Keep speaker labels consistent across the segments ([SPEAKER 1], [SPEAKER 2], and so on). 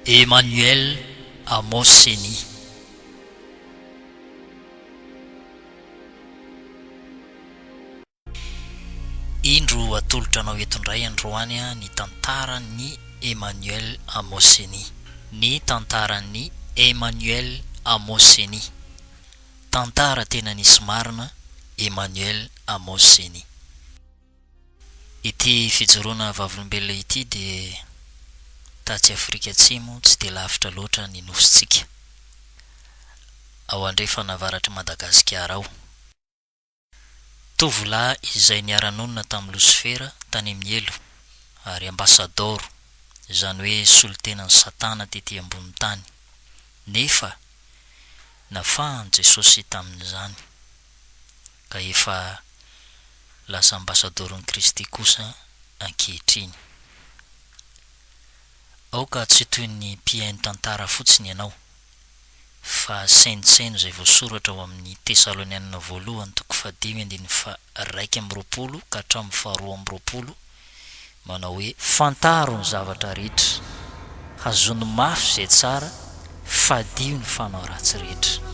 [SPEAKER 1] Emmanuel Amos Ceni. Indro atolotra anao eto indray androany ny tantaran'i Emmanuel Amos Ceni. Ny tantaran'i Emmanuel Amos Ceni. Tantara tena nisy marina Emmanuel Amos Zeny. Ity fijoroana vavolombelona ity dia tatsy Afrika Atsimo tsy dia lavitra loatra ny nosintsika, ao andrefana avaratr'i Madagasikara ao. Tovolahy izay niara-nonina tamin'i Losifera tany amin'ny helo, ary ambasadaoro, izany hoe solontenan'i Satana tetỳ ambonin'ny tany. Nefa nafahan'i Jesosy tamin'izany, ka efa lasa ambasadaoron'i Kristy kosa ankehitriny. Aoka tsy ho toy ny mpihaino tantara fotsiny ianao. fa saintsaino izay voasoratra ao amin'ny Tesalonianina Voalohany toko fahadimy andininy faharaika amby roapolo ka hatramin'ny faharoa amby roapolo, manao hoe. Fantaro ny zavatra rehetra, hazono mafy izay tsara, fadio ny fanao ratsy rehetra.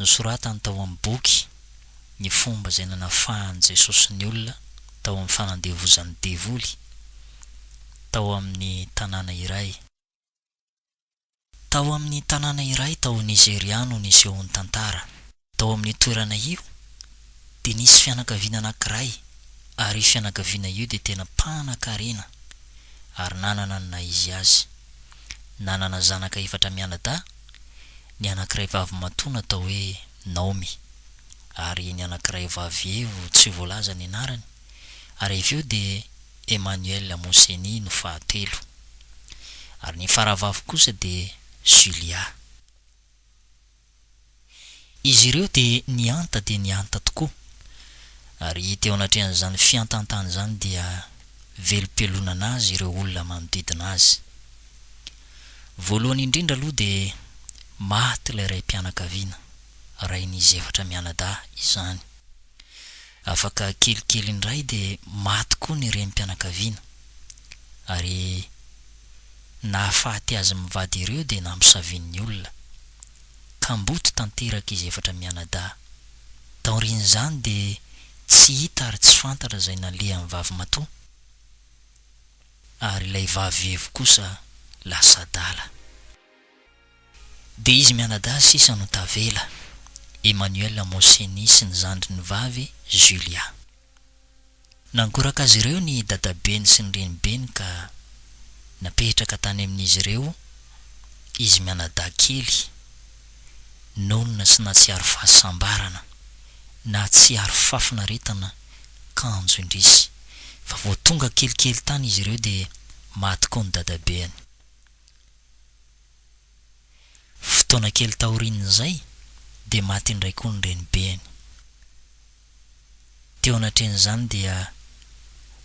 [SPEAKER 1] Nosoratany tao amin'ny boky ny fomba izay nanafahan'i Jesosy ny olona tao amin'ny fanandevozan'ny devoly tao amin'ny tanàna iray. Tao amin'ny tanàna iray tao Nizeria no nisehoan'ny tantara. Tao amin'io toerana io, dia nisy fianakaviana anankiray, ary io fianakaviana io dia tena mpanankarena ary nanana ny naha izy azy. Nanana zanaka efatra mianadahy. Ny anankiray vavy matoa natao hoe Naomy, ary ny anankiray vavy evo tsy voalaza ny anarany, ary avy eo dia Emmanuel Moseni no fahatelo, ary ny faravavy kosa dia Julia. Izy ireo dia nihanta dia nihanta tokoa, ary teo anatrehan'izany fihantantany izany dia velom-pialonana azy ireo olona manodidina azy. Voalohany indrindra aloha dia maty ilay raim-pianakaviana, rain'izy efatra mianadahy izany. Afaka kelikely indray dia maty koa ny renim-pianakaviana, ary nahafaty azy mivady ireo dia namosavian'ny olona. Kamboty tanteraka izy efatra mianadahy. Taorian'izany dia tsy hita ary tsy fantatra izay nalehan'ny vavimatoa. ary ilay vavy-vevy kosa lasa adala. Dia izy mianadahy sisa no tavela, Emmanuel Moseni sy ny zandriny vavy Julia. Nangoraka azy ireo ny dadabeny sy ny renibeny ka napetraka tany amin'izy ireo izy mianadahy kely. Nonina sy natsiaro fahasambarana, nahatsiaro fahafinaretana kanjo indrisy. Fa vao tonga kelikely tany izy ireo dia maty koa ny dadabeany. Fotoana kely taorian'izay dia maty indray koa ny renibeany. Teo anatrehan'izany dia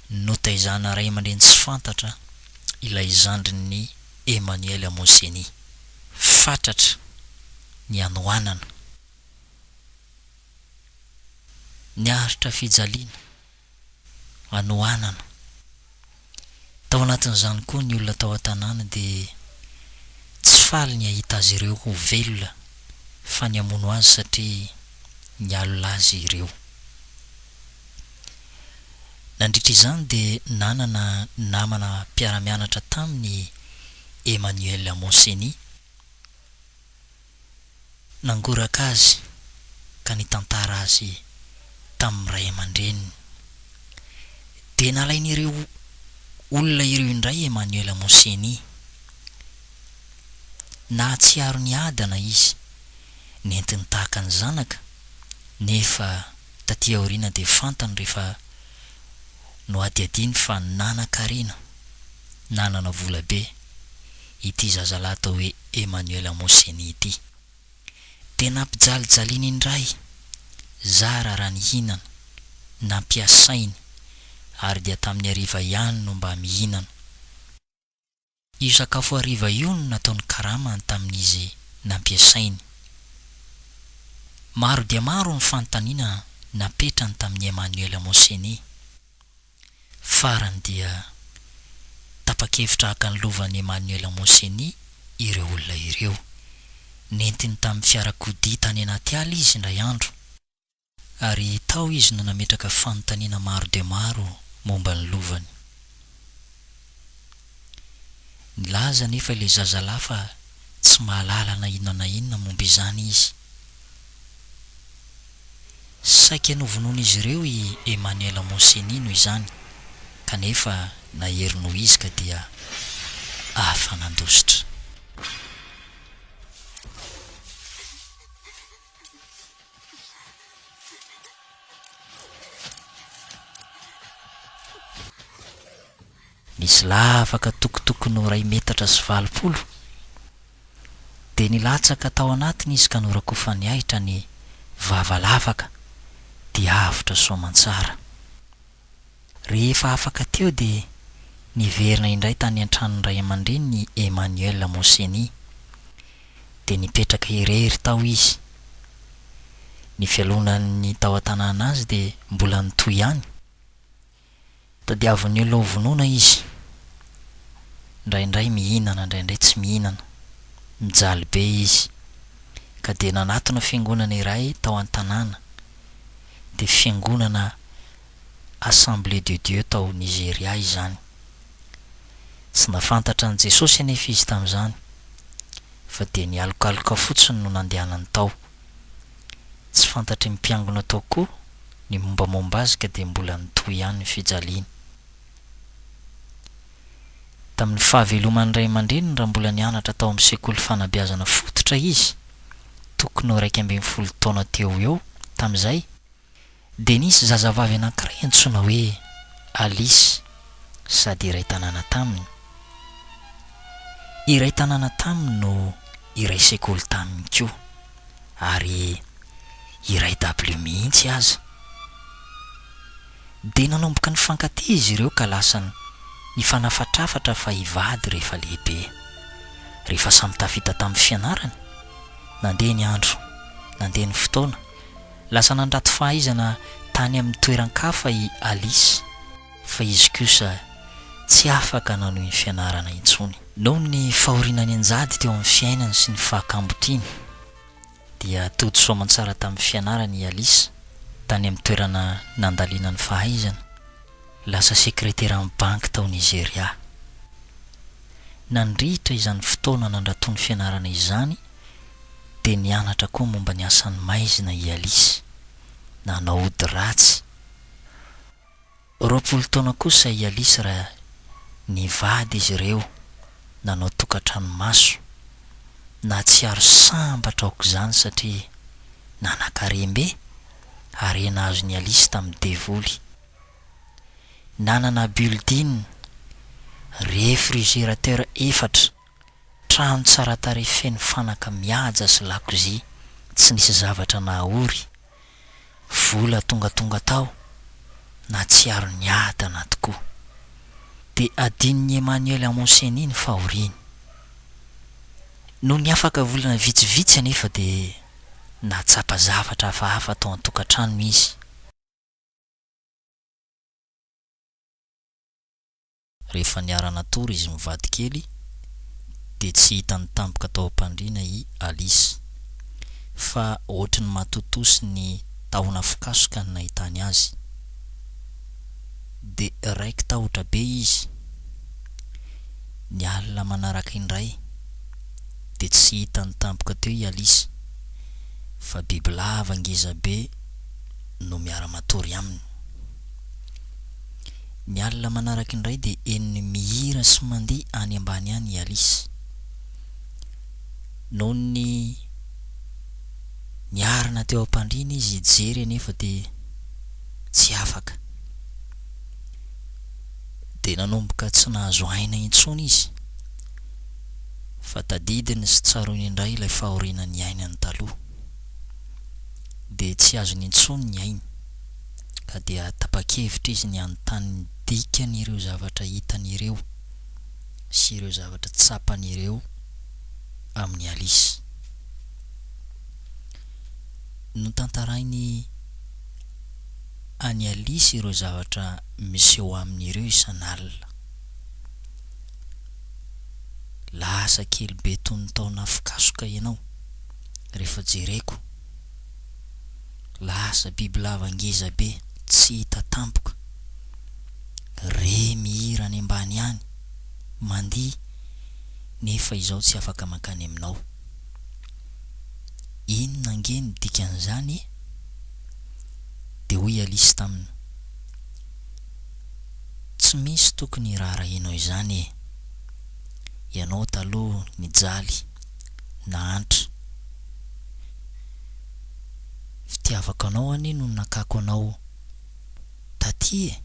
[SPEAKER 1] notaizana ray aman-dreny tsy fantatra ilay zandrin'i Emmanuel Amouzeni. Fatratra ny hanoanana. Niaritra fijaliana, hanoanana, Tao anatin'izany koa ny olona tao an-tanàna dia tsy faly ny hahita azy ireo ho velona fa ny hamono azy satria nialona azy ireo. Nandritra izany dia nanana namana mpiara-mianatra taminy i Emmanuel Moseni, nangoraka azy ka nitantara azy tamin'ny ray aman-dreniny. Dia nalain'ireo olona ireo indray Emmanuel Moseni. Nahatsiaro ny adana izy, nentiny tahaka ny zanaka, nefa taty aoriana dia fantany rehefa nohadihadiany fa nanan-karena, nanana vola be. ity zazalahy atao hoe Emmanuel Moseni ity. Dia nampijalijaliany indray zara raha nihinana, nampiasainy, ary dia tamin'ny hariva ihany no mba mihinana. Io sakafo hariva io no nataony karama tamin'izy nampiasainy. Maro dia maro ny fanontaniana napetrany tamin'i Emmanuel Moseni. Farany dia tapa-kevitra haka ny lovan'i Emmanuel Moseni ireo olona ireo. Nentiny tamin'ny fiarakodia tany anaty ala izy indray andro, ary tao izy no nametraka fanontaniana maro dia maro momba ny lovany. Nilaza anefa ilay zazalahy fa tsy mahalala na inona na inona momba izany izy. Saika novonoin'izy ireo i Emmanuel Moseni noho izany, kanefa nahery noho izy ka dia afa-nandositra. Nisy lavaka tokotokony iray metatra sy valopolo, dia nilatsaka tao anatiny izy ka norakofan'ny ahitra ny vava lavaka dia avotra soamantsara. Rehefa afaka teo dia niverina indray tany an-tranon'ny ray aman-dreniny i Emmanuel Moseni, dia nipetraka irery tao izy. Ny fialonan'ny tao an-tanàna azy dia mbola nitohy ihany. Tadiavin'ny olona ho vonoina izy. Indraindray mihinana, indraindray tsy mihinana. Mijaly be izy. Ka dia nanatona fiangonana iray tao an-tanàna. Dia fiangonana Assemblée de Dieu tao Nigeria izany. Tsy nahafantatra an'i Jesosy anefa izy tamin'izany, fa dia nialokaloka fotsiny no nandehanany tao. Tsy fantatry ny mpiangona tao koa ny mombamomba azy ka dia mbola nitohy ihany ny fijaliany. Tamin'ny fahaveloman'ny ray aman-dreniny raha mbola nianatra tao amin'ny sekoly fanabeazana fototra izy, tokony ho iraika ambin'ny folo taona teo ho eo tamin'izay, dia nisy zazavavy anankiray antsoina hoe Alice sady iray tanàna taminy. Iray tanàna taminy no. iray sekoly taminy koa, ary iray dabilio mihitsy aza. Dia nanomboka nifankatia izy ireo ka lasa nifanafatrafatra fa hivady rehefa lehibe. Rehefa samy tafita tamin'ny fianarany, nandeha ny andro, nandeha ny fotoana, lasa nandrato fahaizana tany amin'ny toeran-kafa i Alice. fa izy kosa tsy afaka nanohy ny fianarana intsony. Noho ny fahoriana nianjady teo amin'ny fiainany sy ny fahakambo tiany, dia tody soamantsara tamin'ny fianarana i Alice tany amin'ny toerana nandalinany fahaizana, lasa sekreteran'ny banky tao Nizeria. Nandritra izany fotoana nandratoany fianarana izany, dia nianatra koa momba ny asan'ny maizina i Alice. Nanao ody ratsy. Roapolo taona kosa i Alice raha nivady izy ireo, nanao tokantrano maso. Nahatsiaro sambatra aok'izany satria nanan-karem-be, harena azon'i Alice tamin'ny devoly. Nanana building, réfrigérateur efatra, Trano tsara tarehy feno fanaka mihaja sy lakozia tsy nisy zavatra nahaory. Vola tongatonga tao, nahatsiaro ny ady anaty koa. Dia adinon'i Emmanuel Amoseni ny fahoriany. Nony afaka volana vitsivitsy anefa dia nahatsapa zavatra hafahafa tao an-tokantrano izy. Rehefa niara-natory izy mivady kely dia tsy hitan'ny tampoka tao am-pandriana i Alice. Fa ohatry ny matotoa sy ny tahona fikasoka ny nahitany azy. Dia raiki-tahotra be izy. Ny alina manaraka indray dia tsy hitan'ny tampoka teo i Alice fa bibilava ngeza be no miara-matory aminy. Ny alina manaraka indray dia henony mihira sy mandihy any ambany any i Alice. Nony niarina teo am-pandriana izy hijery anefa dia tsy afaka. Dia nanomboka tsy nahazo aina intsony izy fa tadidiny sy tsaroiny indray ilay fahoriana niainany taloha. Dia tsy azony intsony ny ainy. ka dia tapa-kevitra izy ny hanontany ny dikan'ireo zavatra hitany ireo sy ireo zavatra tsapany ireo amin'i Alice. Notantarainy an'i Alice ireo zavatra miseho aminy ireo isan'alina. Lasa kely be toy ny taona afokasoka ianao rehefa jereko. Lasa bibilava ngeza be tsy hita tampoka. Re mihira any ambany any, mandihy, nefa izaho tsy afaka mankany aminao. Inona ange ny dikan'izany e? Dia hoy Alice taminy, Tsy misy tokony hiraharahianao izany e! Ianao taloha nijaly. nahantra Fitiavako anao anie no nakako anao taty e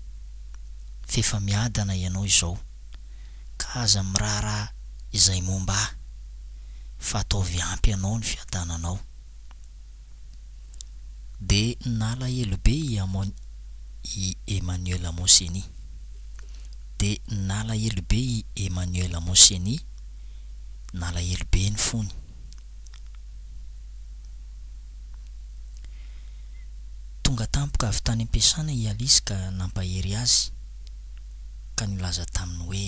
[SPEAKER 1] F'efa miadana ianao izao Ka aza miraharaha izay momba ahy Fa ataovy ampy anao ny fiadananao Dia nalahelo be i Amon i Emmanuel Moseni. Dia nalahelo be i Emmanuel Moseni, nalahelo be ny fony. Tonga tampoka avy tany am-piasana i Alice ka nampahery azy, ka nilaza taminy hoe.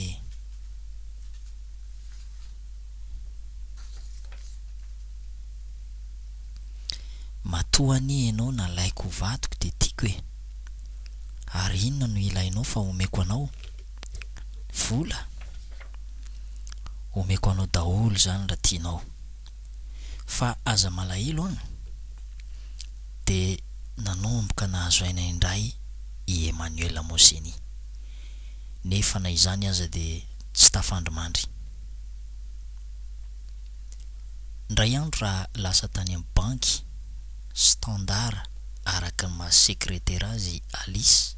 [SPEAKER 1] Matoa anie ianao nalaiko ho vadiko dia tiako e! Ary inona no ilainao fa omeko anao? Vola? Omeko anao daholo izany raha tianao. Fa aza malahelo an! Dia nanomboka nahazo aina indray i Emmanuel Moseni. Nefa na izany aza dia tsy tafandrimandry. Indray andro raha lasa tany amin'ny banky Standard araka ny maha sekretera azy i Alice,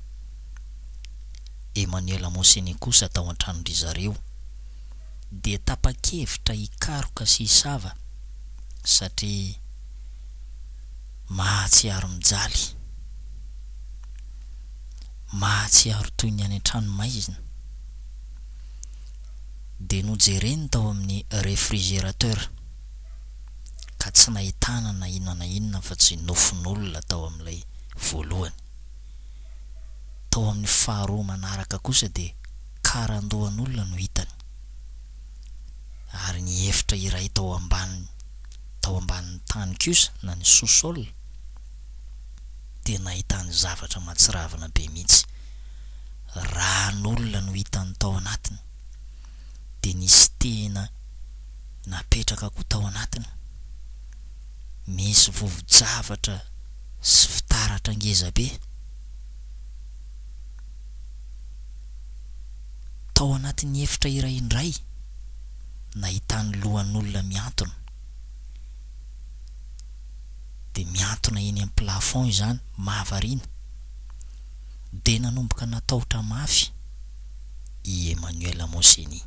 [SPEAKER 1] Emmanuel Mosene kosa tao an-tranon-dry zareo dia tapa-kevitra hikaroka sy hisava satria mahatsiaro mijaly, mahatsiaro toy ny any an-tranomaizina. dia nojereny tao amin'ny refrigerateur ka tsy nahitana na inona na inona afa-tsy nofon'olona tao amin'ilay voalohany. Tao amin'ny faharoa manaraka kosa dia karandohan'olona no hitany ary ny efitra iray tao ambany tao ambanin'ny tany kosa na ny sous-sol dia nahitany zavatra mahatsiravina be mihitsy. ran'olona no hitany tao anatiny dia nisy tena napetraka koa tao anatiny, misy vovo-javatra sy fitaratra ngeza be tao anatin'ny efitra iray indray nahitany lohan'olona mihantona, dia mihantona eny amin'ny plafond izany, mahavariana. dia nanomboka natahotra mafy i Emmanuel Moseni.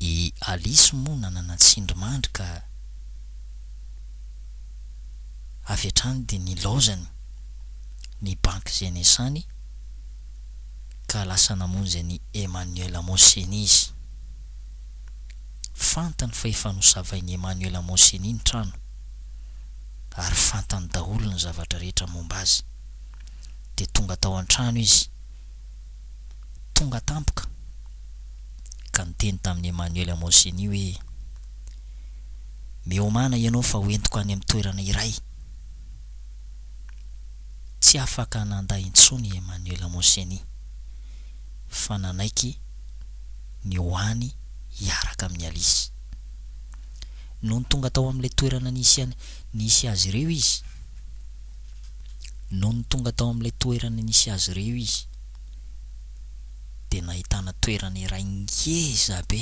[SPEAKER 1] I Alice moa nanana tsindrimandry ka avy hatrany dia nilaozany ny banky izay niasany ka lasa namonjy an'i Emmanuel Moseni izy. Fantany fa efa nosavain'i Emmanuel Moseni ny trano. ary fantany daholo ny zavatra rehetra momba azy. Dia tonga tao an-trano izy, tonga tampoka, ka niteny tamin'i Emmanuel Amoseni hoe, Miomàna ianao fa hoentiko any amin'ny toerana iray. Tsy afaka nandà intsony i Emmanuel Amoseni, fa nanaiky ny ho any hiaraka amin'i Alice. Nony tonga tao amin'ilay toerana nisy nisy azy ireo izy. Nony tonga tao amin'ilay toerana nisy azy ireo izy, dia nahitana toerana iray ngeza be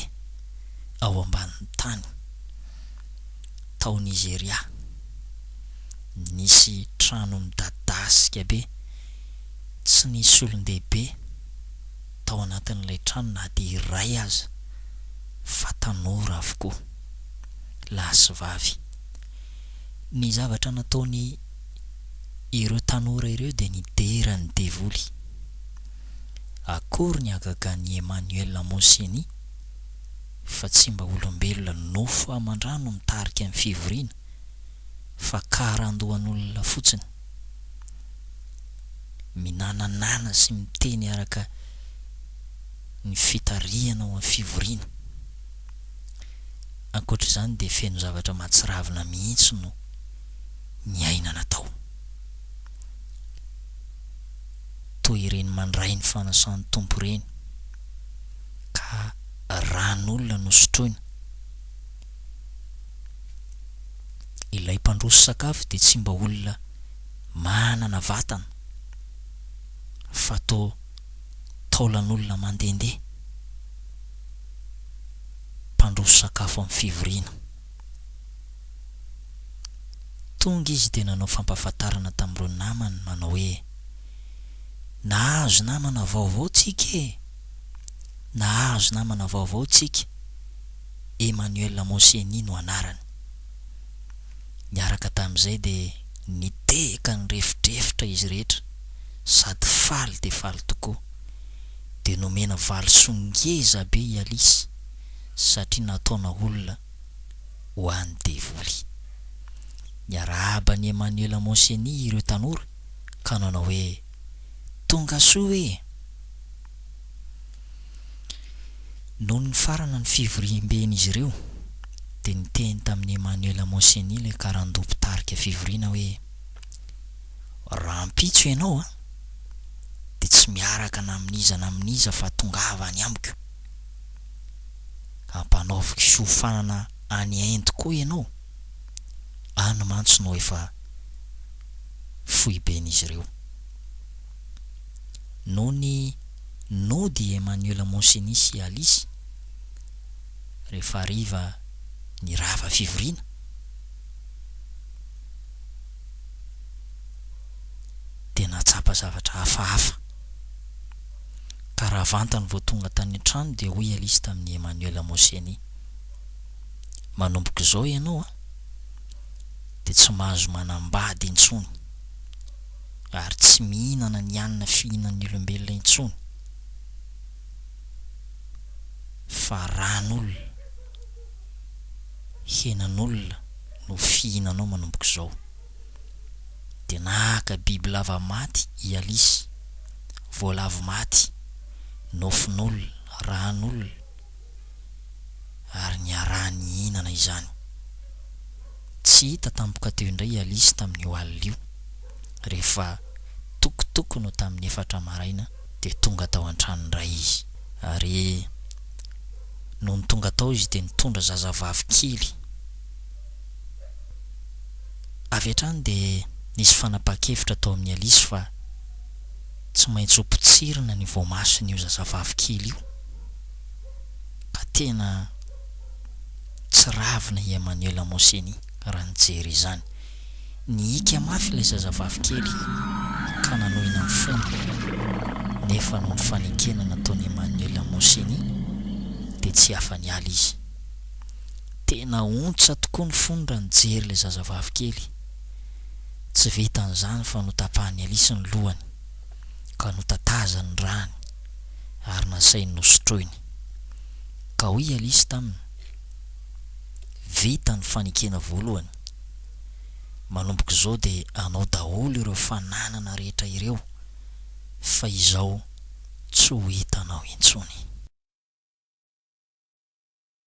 [SPEAKER 1] ao ambanin'ny tany. Tao Nizeria, nisy trano midadasika be tsy nisy olon-dehibe. tao anatin'ilay trano na dia iray aza fa tanora avokoa, lahy sy vavy. Ny zavatra nataony ireo tanora ireo dia nidera ny devoly. Akory ny hagagan'i Emmanuel Moseni fa tsy mba olombelona nofo aman-drano mitarika ny fivoriana fa karandohan'olona fotsiny. minananana sy miteny araka ny fitarihana ao amin'ny fivoriana. Ankoatra izany dia feno zavatra mahatsiravina mihitsy no niainana tao. Toa ireny mandray ny fanasan'ny Tompo ireny ka ran'olona no sotroina. Ilay mpandroso sakafo dia tsy mba olona manana vatana fa toa taolan'olona mandehandeha mpandroso sakafo amin'ny fivoriana. Tonga izy dia nanao fampahafantarana tamin'ireo namany manao hoe, Nahazo namana vaovao tsika e! Nahazo namana vaovao tsika! Emmanuel Moseni no anarany. Niaraka tamin'izay dia nitehaka nirefodrefotra izy rehetra sady faly dia faly tokoa. Dia nomena valisoa ngeza be i Alice satria nataona olona ho an'ny devoly. Niarahaba an'i Emmanuel Moseni ireo tanora ka nanao hoe. Tonga soa ee! Nony nifarana ny fivoriamben'izy ireo dia niteny tamin'i Emmanuel Moseni ilay karandoha mpitarika fivoriana hoe, Rahampitso ianao an, dia tsy miaraka na amin'iza na amin'iza fa tongava any amiko. Hampanaoviko fiofanana any Inde koa ianao. any mantsy no efa foiben'izy ireo. Nony nody i Emmanuel Monsiny sy i Alice, rehefa hariva ny rava fivoriana, dia nahatsapa zavatra hafahafa. Ka raha vantany vao tonga tany an-trano dia hoy i Alice tamin'i Emmanuel Monsiny, manomboka izao ianao an, dia tsy mahazo manambady intsony, ary tsy mihinana ny hanina fihinan'ny olombelona intsony, fa ran'olona, henan'olona no fihinanao manomboka izao. Dia naka bibilava maty i Alice, voalavo maty, nofon'olona, ran'olona, ary niaraha-nihinana izany. Tsy hita tampoka teo indray i Alice tamin'io alina io. Rehefa tokotoko no tamin'ny efatra maraina dia tonga tao an-trano indray izy. Ary nony tonga tao izy dia nitondra zazavavy kely. Avy hatrany dia nisy fanapahan-kevitra tao amin'i Alice fa tsy maintsy hopotsirina ny voamason'io zazavavy kely io. ka tena tsiravina i Emmanuela Moseni raha nijery izany. Nihiaka mafy ilay zazavavy kely ka nanohina ny fony, nefa noho ny fanekena nataon'i Emmanuela Moseni dia tsy afa-niala izy. Tena ontsa tokoa ny fony raha nijery ilay zazavavy kely. Tsy vitan'izany fa notapahan'i Alice ny lohany ka notatazany ny ràny. ary nasainy nosotroiny. Ka hoy i Alice taminy, Vita ny fanekena voalohany. Manomboka izao dia anao daholo ireo fananana rehetra ireo fa izao tsy ho hitanao intsony.